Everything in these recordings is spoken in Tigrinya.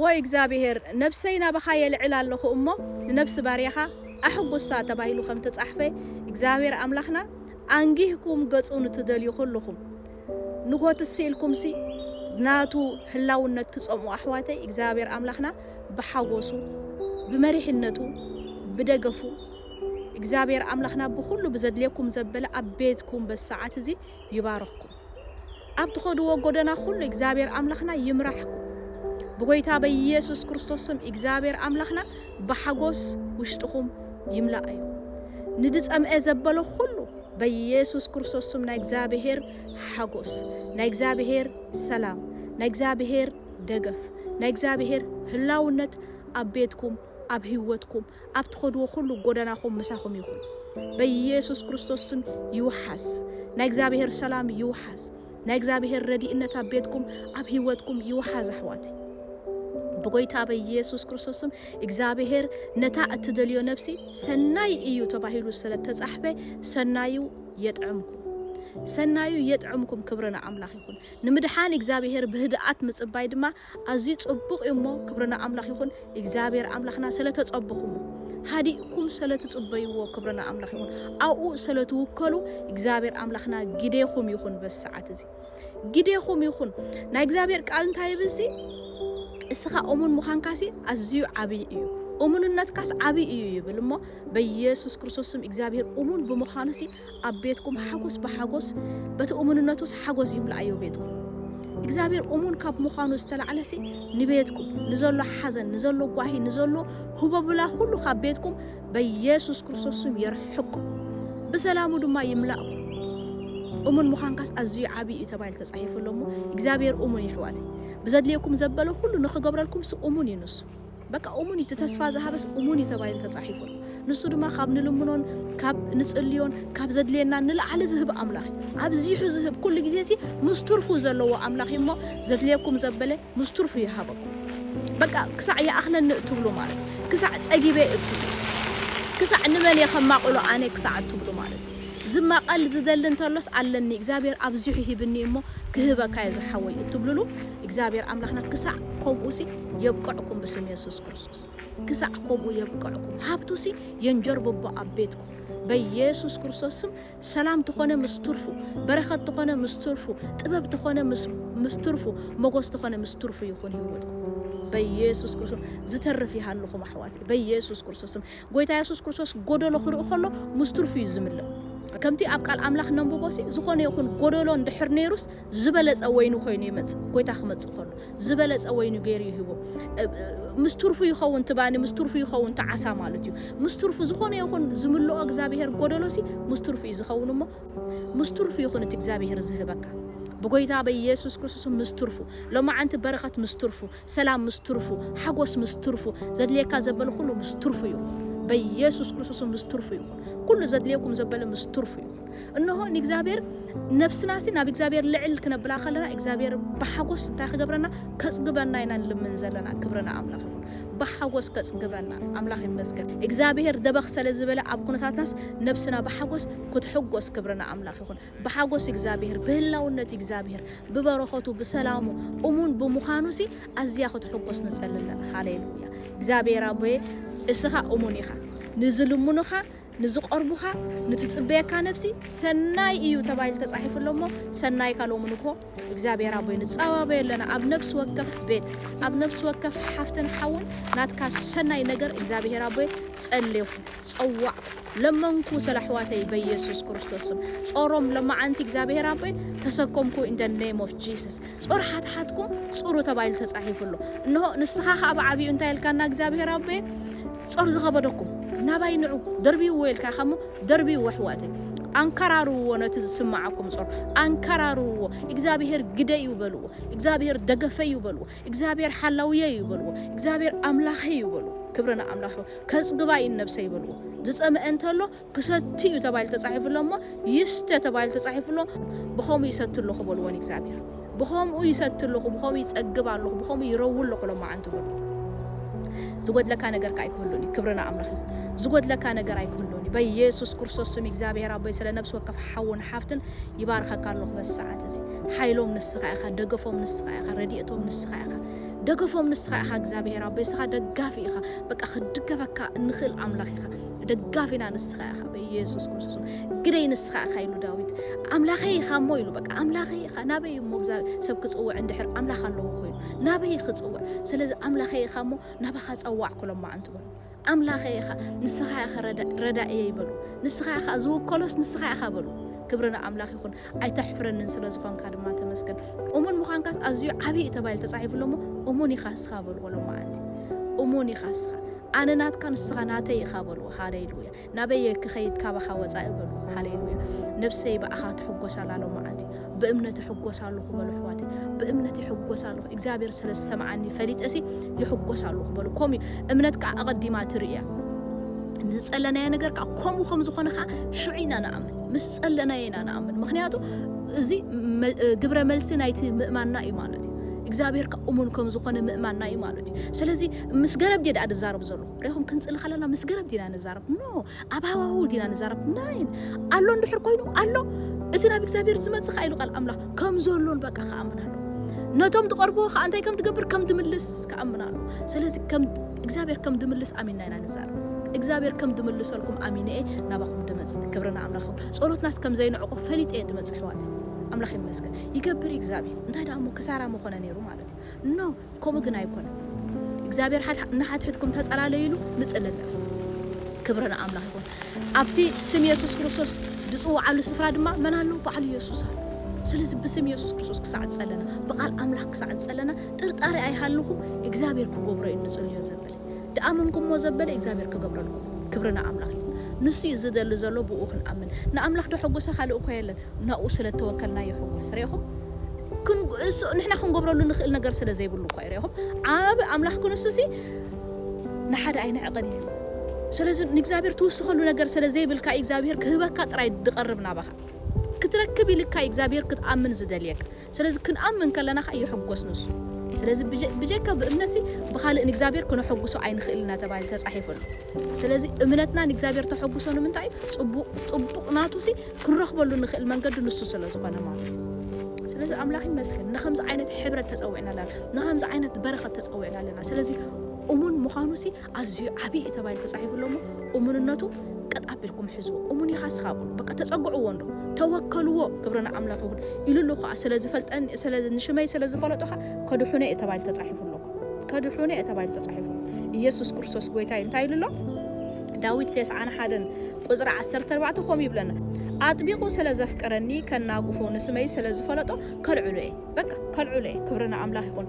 ዎይ እግዚኣብሄር ነብሰይ ናባኻ የልዕል ኣለኹ እሞ ንነብሲ ባርያኻ ኣሕጉሳ ተባሂሉ ከም ተጻሕፈ እግዚኣብሄር ኣምላኽና ኣንጊህኩም ገጹ ንትደልዩ ኩሉኹም ንጎት ስኢልኩምሲ ናቱ ህላውነት ትጸምኡ ኣሕዋተይ እግዚኣብሄር ኣምላኽና ብሓጎሱ ብመሪሕነቱ ብደገፉ እግዚኣብሄር ኣምላኽና ብኹሉ ብዘድልየኩም ዘበለ ኣብ ቤትኩም በዚ ሰዓት እዚ ይባርኽኩም። ኣብ ትኸድዎ ጎደና ኩሉ እግዚኣብሔር ኣምላኽና ይምራሕኩም ብጎይታ በኢየሱስ ክርስቶስ ስም እግዚኣብሔር ኣምላኽና ብሓጎስ ውሽጥኹም ይምልኣዮ ንድጸምኤ ዘበሎ ኩሉ በኢየሱስ ክርስቶስ ስም ናይ እግዚኣብሔር ሓጎስ ናይ እግዚኣብሔር ሰላም ናይ እግዚኣብሔር ደገፍ ናይ እግዚኣብሔር ህላውነት ኣብ ቤትኩም ኣብ ህይወትኩም ኣብ ትኸድዎ ኩሉ ጎደናኹም ምሳኹም ይኹን በየሱስ ክርስቶስ ስም ይውሓስ ናይ እግዚኣብሄር ሰላም ይውሓስ ናይ እግዚኣብሄር ረዲእነት ኣብ ቤትኩም ኣብ ህይወትኩም ይውሓዝ ኣሕዋተይ ብጎይታ በኢየሱስ ክርስቶስም እግዚኣብሄር ነታ እትደልዮ ነብሲ ሰናይ እዩ ተባሂሉ ስለተጻሕፈ ሰናዩ የጥዕምኩም ሰናዩ የጥዕምኩም ክብሪ ንኣምላኽ ይኹን ንምድሓን እግዚኣብሄር ብህድኣት ምጽባይ ድማ ኣዝዩ ጽቡቅ እዩ እሞ ክብሪ ንኣምላኽ ይኹን እግዚኣብሔር ኣምላኽና ሰለ ተጸበኹሞ ሃዲእኩም ሰለ ትጽበይዎ ክብሪ ንኣምላኽ ይኹን ኣብኡ ሰለ ትውከሉ እግዚኣብሔር ኣምላኽና ግዴኹም ይኹን በዚ ሰዓት እዚ ግዴኹም ይኹን ናይ እግዚኣብሔር ቃል እንታይ ይብል ሲ እስኻ እሙን ምዃንካሲ ኣዝዩ ዓብይ እዩ እሙንነትካስ ዓብይ እዩ ይብል እሞ በኢየሱስ ክርስቶስ ስም እግዚኣብሔር እሙን ብምዃኑ ሲ ኣብ ቤትኩም ሓጎስ ብሓጎስ በቲ እሙንነቱስ ሓጎስ ይምላኣዮ ቤትኩም እግዚኣብሔር እሙን ካብ ምዃኑ ዝተላዕለሲ ንቤትኩም ንዘሎ ሓዘን ንዘሎ ጓሂ ንዘሎ ሁበብላ ኩሉ ካብ ቤትኩም በኢየሱስ ክርስቶስ ስም የርሕቅኩም ብሰላሙ ድማ ይምላእኩም እሙን ምዃንካስ ኣዝዩ ዓብዪ እዩ ተባሂሉ ተጻሒፉ ኣሎ እሞ እግዚኣብሔር እሙን ይሕዋት ብዘድልየኩም ዘበለ ኩሉ ንኽገብረልኩምስ እሙን እዩ ንሱ በቃ እሙን እዩ፣ እቲ ተስፋ ዝሃበስ እሙን እዩ ተባሂሉ ተጻሒፉ ኣሎ። ንሱ ድማ ካብ ንልምኖን ካብ ንጽልዮን ካብ ዘድልየናን ንላዕሊ ዝህብ ኣምላኽ እዩ። ኣብዚሑ ዝህብ፣ ኩሉ ግዜሲ ምስ ትርፉ ዘለዎ ኣምላኽ እዩ እሞ፣ ዘድልየኩም ዘበለ ምስ ትርፉ ይሃበኩም። በቃ ክሳዕ ይኣኽለኒ እትብሉ ማለት እዩ፣ ክሳዕ ጸጊበ እትብሉ፣ ክሳዕ ንመን እየ ከማቕሎ ኣነ ክሳዕ እትብሉ ማለት እዩ። ዝማቐል ዝደሊ እንተሎስ ኣለኒ፣ እግዚኣብሄር ኣብዚሑ ሂብኒ እሞ ክህበካ እየ ዝሓወይ እትብሉሉ እግዚኣብሄር ኣምላኽና ክሳዕ ከምኡሲ፣ የብቅዕኩም ብስም የሱስ ክርስቶስ ክሳዕ ከምኡ የብቅዕኩም ሃብቱሲ የንጀርብቦ ኣብ ቤትኩም በየሱስ ክርስቶስ ስም ሰላም ተኾነ ምስ ትርፉ በረኸት ተኾነ ምስ ትርፉ ጥበብ ተኾነ ምስ ትርፉ መጎስ ተኾነ ምስ ትርፉ ይኹን ህይወትኩም በየሱስ ክርስቶስ ዝተርፍ ይሃልኹም ኣሕዋት በየሱስ ክርስቶስ ስም ጎይታ የሱስ ክርስቶስ ጎደሎ ክርኢ ከሎ ምስ ትርፉ እዩ ዝምልእ ከምቲ ኣብ ቃል ኣምላኽ ነንብቦሲ ዝኾነ ይኹን ጎደሎ እንድሕር ነይሩስ ዝበለጸ ወይኒ ኮይኑ ይመጽእ ጎይታ ክመጽእ ከሎ ዝበለጸ ወይኒ ገይሩ ይህቦ ምስ ትርፉ ይኸውን ትባኒ ምስ ትርፉ ይኸውን ትዓሳ ማለት እዩ ምስ ትርፉ ዝኾነ ይኹን ዝምልኦ እግዚኣብሔር ጎደሎሲ ምስ ትርፉ እዩ ዝኸውን እሞ ምስ ትርፉ ይኹን እቲ እግዚኣብሔር ዝህበካ ብጎይታ በኢየሱስ ክርስቶስ ምስ ትርፉ ሎማዓንቲ በረኸት ምስ ትርፉ ሰላም ምስ ትርፉ፣ ሓጎስ ምስ ትርፉ፣ ዘድልየካ ዘበለ ኩሉ ምስ ትርፉ ይኹን። በየሱስ ክርስቶስም ምስ ትርፉ ይኹን። ኩሉ ዘድልየኩም ዘበለ ምስ ትርፉ ይኹን። እንሆ ንእግዚኣብሔር ነብስናሲ ናብ እግዚኣብሔር ልዕል ክነብላ ከለና እግዚኣብሔር ብሓጎስ እንታይ ክገብረና ከጽግበና ኢና ንልምን ዘለና ክብሪ ንኣምላኽ ይኹን። ብሓጎስ ከጽግበና ኣምላኽ ይመስገን። እግዚኣብሔር ደበኽ ሰለዝበለ ኣብ ኩነታትናስ ነብስና ብሓጎስ ክትሕጎስ ክብሪ ንኣምላኽ ይኹን። ብሓጎስ እግዚኣብሄር፣ ብህላውነት እግዚኣብሄር፣ ብበረኸቱ፣ ብሰላሙ፣ እሙን ብምዃኑሲ ኣዝያ ክትሕጎስ ንጸሊ ኣለና። ሃሌሉያ! እግዚኣብሄር ኣቦየ እስኻ እሙን ኢኻ። ንዝልምኑኻ፣ ንዝቐርቡኻ፣ ንትጽበየካ ነብሲ ሰናይ እዩ ተባሂሉ ተጻሒፉ ኣሎ እሞ ሰናይካ ሎሚ ንግሆ እግዚኣብሄር ኣቦይ ንጻባበዮ ኣለና። ኣብ ነብሲ ወከፍ ቤት፣ ኣብ ነብሲ ወከፍ ሓፍትን ሓውን ናትካ ሰናይ ነገር እግዚኣብሄር ኣቦየ ጸሌኹ፣ ጸዋዕኩ። ለመንኩ ስለ ኣሕዋተይ በየሱስ ክርስቶስ ስም ጾሮም ለማዓንቲ እግዚኣብሔር ኣቦይ ተሰኮምኩ in the name of Jesus ጾር ሓትሓትኩም ጹሩ ተባሂሉ ተጻሂፉ ኣሎ እንሆ ንስካ ከኣ ብዓቢኡ እንታይ ኢልካና እግዚኣብሔር ኣቦየ ጾር ዝከበደኩም ናባይ ንዑ ደርብይዎ ኢልካ ኢካሞ ደርብይዎ ኣሕዋተይ ኣንከራርውዎ ነቲ ዝስማዓኩም ጾር ኣንከራርውዎ እግዚኣብሔር ግደዩ በልዎ እግዚኣብሔር ደገፈዩ በልዎ እግዚኣብሔር ሓላውየ እዩ በልዎ እግዚኣብሔር ኣምላኸይ እዩ በሉ ክብሪ ንኣምላኽ ይኹን ከጽግባ እዩን ነብሰይ በልዎ ዝጸመኤ እንተሎ ክሰቲ እዩ ተባሂሉ ተጻሒፉ ኣሎ እሞ ይስተ ተባሂሉ ተጻሒፉ ኣሎ ብኸምኡ ይሰቲ ኣለኹ በልዎ ንእግዚኣብሔር ብኸምኡ ይሰቲ ኣለኹ ብኸምኡ ይጸግብ ኣለኹ ብኸምኡ ይረው ኣለኹ ሎማዓንቲ በልዎ ዝጎድለካ ነገር ከ ኣይክህሉን እዩ ክብርና ኣምላኽ ይኹን ዝጎድለካ ነገር ኣይክህሉን እዩ በኢየሱስ ክርስቶስ ስም እግዚኣብሔር ኣቦይ ስለ ነብሲ ወከፍ ሓውን ሓፍትን ይባርኸካ ኣለኹ በዚ ሰዓት እዚ ሓይሎም ንስኻ ኢኻ ደገፎም ንስኻ ኢኻ ረድኤቶም ንስኻ ኢኻ ደገፎም ንስኻ ኢኻ እግዚኣብሔር ኣቦይ ንስኻ ደጋፊ ኢኻ በቃ ክድገፈካ እንኽእል ኣምላኽ ኢኻ ደጋፊና ንስኻ ኢኻ በኢየሱስ ክርስቶስ ግደይ ንስኻ ኢኻ ኢሉ ዳዊት ኣምላኸይ ኢኻ እሞ ኢሉ በቃ ኣምላኸይ ኢኻ ናበይ እሞ እግዚኣብሔር ሰብ ክጽውዕ እንድሕር ኣምላኽ ኣለዎ ኮይኑ ናበይ ክጽውዕ ስለዚ ኣምላኸይ ኢኻ እሞ ናባኻ ጸዋዕኩ ሎማዓንቲ በሉ ኣምላኸይ ኢኻ ንስኻ ኢኻ ረዳእየይ በሉ ንስኻ ኢኻ ዝውከሎስ ንስኻ ኢኻ በሉ ክብሪ ንኣምላኽ ይኹን ኣይተሕፍረንን ስለ ዝኾንካ ድማ ተመስገን እሙን ምዃንካስ ኣዝዩ ዓብዪ እዩ ተባሂሉ ተጻሒፉ ኣሎ እሞ እሙን ኢኻ ንስኻ በልዎ ሎማዓንቲ እሙን ኢኻ ንስኻ ኣነ ናትካ ንስኻ ናተይ ኢኻ በልዎ ሃሌሉያ ናበየ ክኸይድ ካባኻ ወጻኢ በልዎ ሃሌሉያ ነብሰይ ብኣኻ ትሕጎስ ኣላ ሎማዓንቲ ብእምነት ይሕጎስ ኣለኹ በሉ ኣሕዋተይ ብእምነት ይሕጎስ ኣለኹ እግዚኣብሔር ስለ ዝሰምዓኒ ፈሊጠሲ ይሕጎስ ኣለኹ በሉ ከምኡ እምነት ከዓ ኣቐዲማ ትርእያ ንዝፀለናዮ ነገር ከዓ ከምኡ ከም ዝኾነ ከዓ ሽዑ ኢና ንኣምን ምስ ፀለናዮ ኢና ንኣምን ምክንያቱ እዚ ግብረ መልሲ ናይቲ ምእማንና እዩ ማለት እዩ እግዚኣብሔር ከዓ እሙን ከም ዝኾነ ምእማንና እዩ ማለት እዩ ስለዚ ምስ ገረብ ዲየ ድኣ ድዛረብ ዘሎ ሪኹም ክንፅሊ ከለና ምስ ገረብ ዲና ንዛረብ ኖ ኣብ ሃዋህው ዲና ንዛረብ ናይን ኣሎ እንድሕር ኮይኑ ኣሎ እቲ ናብ እግዚኣብሔር ዝመጽእ ከኣ ኢሉ ቃል ኣምላኽ ከም ዘሎን በቃ ክኣምን ኣሎ ነቶም ትቐርብዎ ከዓ እንታይ ከም ትገብር ከም ትምልስ ክኣምን ኣሎ ስለዚ ከም እግዚኣብሔር ከም ድምልስ ኣሚንና ኢና ንዛረብ እግዚኣብሔር ከም ድምልሰልኩም ኣሚነ እየ ናባኹም ድመጽእ ክብርና ኣምላኽ ይኹን ጸሎትናስ ከም ዘይንዕቆ ፈሊጠ እየ ድመጽእ ኣሕዋት ኣምላኽ ይመስገን ይገብር እግዚኣብሔር እንታይ ደኣ እሞ ክሳራ መኾነ ነይሩ ማለት እዩ ኖ ከምኡ ግን ኣይኮነን እግዚኣብሔር ሓድ ንሓድሕድኩም ተጸላለዩ ኢሉ ንጽለል ኣሎ። ክብሪ ንኣምላኽ ይኹን ኣብቲ ስም የሱስ ክርስቶስ ዝጽውዓሉ ስፍራ ድማ መን ኣሎ ባዕሉ የሱስ ኣሎ ስለዚ ብስም የሱስ ክርስቶስ ክሳዕ ዝጸለና ብቃል ኣምላኽ ክሳዕ ዝጸለና ጥርጣሬ ኣይሃልኹም እግዚኣብሔር ክገብሮ እዩ ንጽልዮ ዘብል ድኣመንኩሞ ዘበለ እግዚኣብሔር ክገብረልኩም ክብሪ ንኣምላኽ ይኹን ንሱ እዩ ዝደሊ ዘሎ ብእኡ ክንኣምን ንኣምላኽ ደሐጎሰ ካልእ እኮ የለን ናብኡ ስለተወከልና ይሕጎስ ሪኢኹም ክንሱ ንሕና ክንገብረሉ ንኽእል ነገር ስለዘይብሉ እኳ እዩ ሪኢኹም ዓብ ኣምላኽ ክንሱሲ ንሓደ ኣይንዕቕን እዩ ስለዚ ንእግዚኣብሔር ትውስኸሉ ነገር ስለዘይብልካ እዩ እግዚኣብሔር ክህበካ ጥራይ ድቐርብ ናባኻ ክትረክብ ኢልካ እዩ እግዚኣብሔር ክትኣምን ዝደልየካ ስለዚ ክንኣምን ከለና ከኣ ይሕጎስ ንሱ። ስለዚ ብጀካ ብእምነትሲ ብኻልእ ንእግዚኣብሔር ክነሐጉሶ ኣይንኽእልን ኢና ተባሂሉ ተጻሒፉ ኣሎ። ስለዚ እምነትና ንእግዚኣብሔር ተሐጉሶ ንምንታይ እዩ? ጽቡቕ ጽቡቕ ናቱሲ ክንረኽበሉ እንኽእል መንገዲ ንሱ ስለዝኾነ ማለት እዩ። ስለዚ ኣምላኽ ይመስገን ንኸምዚ ዓይነት ሕብረት ተጸዊዕና ኣለና። ንኸምዚ ዓይነት በረኸት ተጸዊዕና ኣለና። ስለዚ እሙን ምዃኑሲ ኣዝዩ ዓብይ እዩ ተባሂሉ ተጻሒፉ ኣሎ እሞ እሙንነቱ ቀጥ ኣቢልኩም ሕዝዎ። እሙን ኢኻ እስኻ በሉ በቃ ተጸግዕዎ እንዶ ተወከልዎ ግብርና ኣምላኽ ይኹን ኢሉ ኣሎ ከኣ ስለ ዝፈልጠኒ ስለ ንሽመይ ስለ ዝፈለጦ ከኣ ከድሑነ እዩ ተባሂሉ ተጻሒፉ ኣሎ ከድሑነ እዩ ተባሂሉ ተጻሒፉ ኢየሱስ ክርስቶስ ጎይታይ እንታይ ኢሉ ኣሎ ዳዊት ቴስዓን ሓደን ቁጽሪ ዓሰርተ ኣርባዕተ ከምኡ ይብለና ኣጥቢቑ ስለ ዘፍቀረኒ ከናጉፎ ንስመይ ስለ ዝፈለጦ ከልዕሎ እየ በቃ ከልዕሎ እየ ክብሪ ንኣምላኽ ይኹን።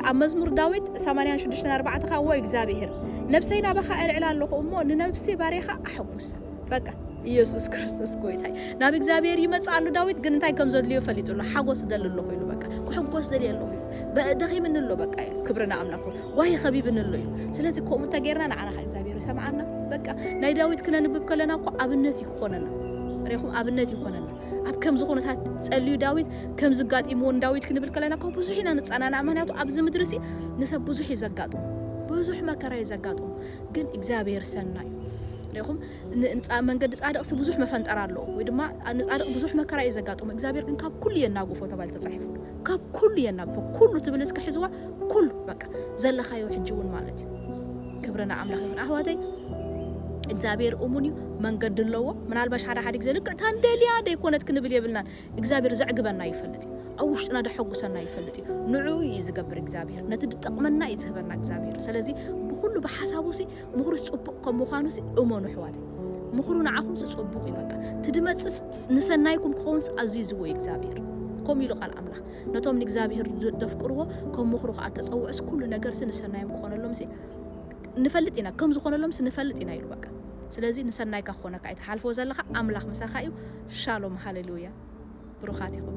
ኣብ መዝሙር ዳዊት ሰማንያን ሽዱሽተን ኣርባዕተ ከኣ ዎ እግዚኣብሄር ነብሰይ ናባኻ ኣልዕላ ኣሎኹ እሞ ንነብሲ ባርያኻ ኣሐጉሳ በቃ። ኢየሱስ ክርስቶስ ጎይታ እዩ ናብ እግዚኣብሔር ይመጽእ ኣሎ ዳዊት ግን እንታይ ከም ዘድልዮ ፈሊጡ ኣሎ ሓጎስ እደሊ ኣለኹ ኢሉ በቃ ክሕጎስ ደልየ ኣለኹ ኢሉ በ- ደኺምኒ ኣሎ በቃ ኢሉ ክብሪ ንኣምላኽ ይኹን ጓሂ ከቢብኒ ኣሎ ኢሉ ስለዚ ከምኡ እንተጌርና ንዓና ከ እግዚኣብሔር ይሰምዓና በቃ ናይ ዳዊት ክነንብብ ከለና እኮ ኣብነት እዩ ክኾነና ሪኹም ኣብነት ይኾነና ኣብ ከምዚ ኩነታት ጸልዩ ዳዊት ከምዚ ጋጢምዎ ንዳዊት ክንብል ከለና እኮ ብዙሕ ኢና ንጸናናዕ ምክንያቱ ኣብዚ ምድሪ ሲ ንሰብ ብዙሕ እዩ ዘጋጥሙ ብዙሕ መከራ እዩ ዘጋጥሙ ግን እግዚኣብሔር ሰናይ እዩ ሪኹም መንገዲ ጻድቅ ሲ ብዙሕ መፈንጠራ ኣለዎ ወይ ድማ ንጻድቅ ብዙሕ መከራ እዩ ዘጋጥሙ እግዚኣብሔር ግን ካብ ኩሉ የናግፎ ተባሂሉ ተጻሒፉ ካብ ኩሉ የናግፎ ኩሉ ትብል እስከ ሕዝዋ ኩሉ ዘለኻዮ ሕጂ ውን ማለት እዩ ክብሪ ንኣምላኽ ይኹን ኣሕዋተይ እግዚኣብሔር እሙን እዩ መንገዲ ኣለዎ ምናልባሽ ሓደ ሓደ ግዜ ልክዕ ታንደልያ ደይኮነት ክንብል የብልናን እግዚኣብሔር ዘዕግበና ይፈልጥ እዩ ኣብ ውሽጥና ደሐጉሰና ይፈልጥ እዩ ንዕኡ እዩ ዝገብር እግዚኣብሔር ነቲ ድጠቕመና እዩ ዝህበና እግዚኣብሔር ስለዚ ብኩሉ ብሓሳቡሲ ምኽሩስ ጽቡቕ ከም ምዃኑሲ እመኑ ኣሕዋት ምኽሩ ንዓኹምሲ ጽቡቕ እዩ በቃ እቲ ድመጽእ ንሰናይኩም ክኸውንስ ኣዝዩ ዝዎ እዩ እግዚኣብሔር ከምኡ ኢሉ ቃል ኣምላኽ ነቶም ንእግዚኣብሄር ዘፍቅርዎ ከም ምኽሩ ኸኣ እተጸውዑስ ኵሉ ነገርሲ ንሰናዮም ክዀነሎምሲ ንፈልጥ ኢና ከም ዝዀነሎምሲ ንፈልጥ ኢና ኢሉ በቃ ስለዚ ንሰናይካ ክዀነካ እዩ ትሓልፎ ዘለኻ ኣምላኽ ምሳኻ እዩ ሻሎም ሃሌሉያ ብሩኻት ኢኹም።